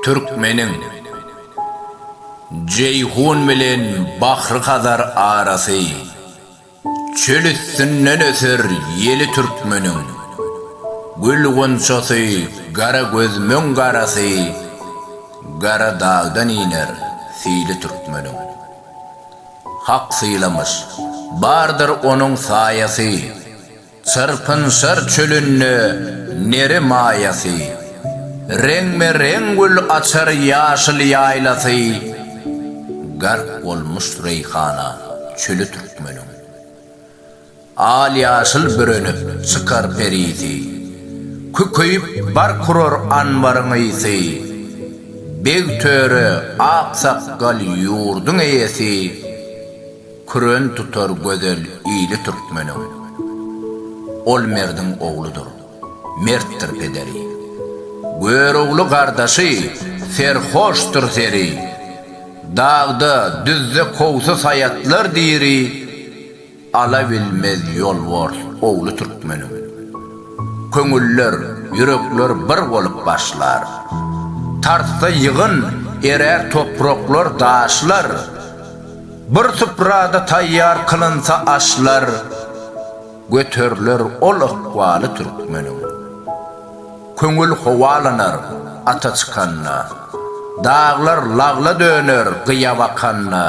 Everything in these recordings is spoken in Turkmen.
Türkmeniň Jeýhun bilen Bahry-Hazar arasy, Çöl üstünden öser ýeli türkmeniň, Gül gunçasy gara gözümiň garasy, Gara dagdan iner sili türkmeniň. Hak sylamyş, bardyr onuň saýasy. Çyrpynşar çölünde neri maýasy. Reňbe-reň gül açar ýaşyl ýaýlasy. Gark bolmuş reýhana çöli türkmeniň. Al-ýaşyl bürenip çykar perisi. Kükeýip bark urar anbaryň ysy. Beg-töre, aksakgal ýurduň eýesi. Küren tutar gözel ili türkmeniň. Ol merdiň ogludyr, mertdir pederi. Görogly gardaşy, serhoşdyr seri. Dagda, düzde kowsy saýatlar diri. Ala bilmez ýolbars ogly türkmeniň. Köňüller, ýürekler bir bolup başlar. Tarsda ýygyn, erär topraklar, daşlar. Bir suprada taýýar kylynsa aşlar, Göteriler ol ykbaly türkmeniň. Köňül howalanar ata çykanda, Daglar lagla döner gyýa bakanda,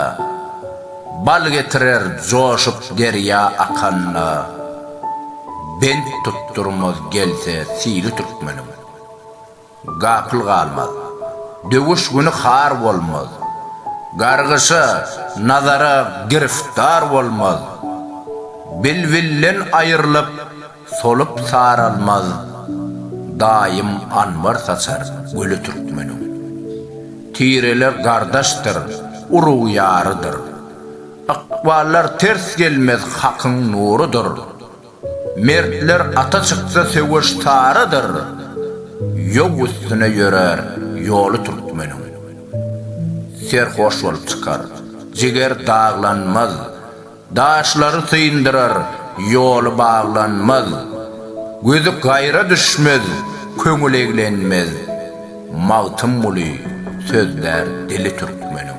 Bal getirer joşup derýa akanda, Bent tutdurmaz gelse sili türkmeniň. Gapyl galmaz. Döwüş güni har bolmaz. Gargyşa, nazara giriftar bolmaz. Bilbilden aýrylyp, solup saralmaz. Daýym anbar saçar güli türkmeniň. Tireler gardaşdyr, urug ýarydyr. Ykballar ters gelmez hakyň nurudyr. Mertler ata çyksa söweş tarydyr, Ýow üstüne ýörer ýoly türkmeniň. Serhoş bolup çykar, jiger daglanmaz, Daşlary syndyrar, ýoly baglanmaz. Gözi gaýra düşmez, köňül eglenmez, Magtymguly sözlär dili türkmeniň.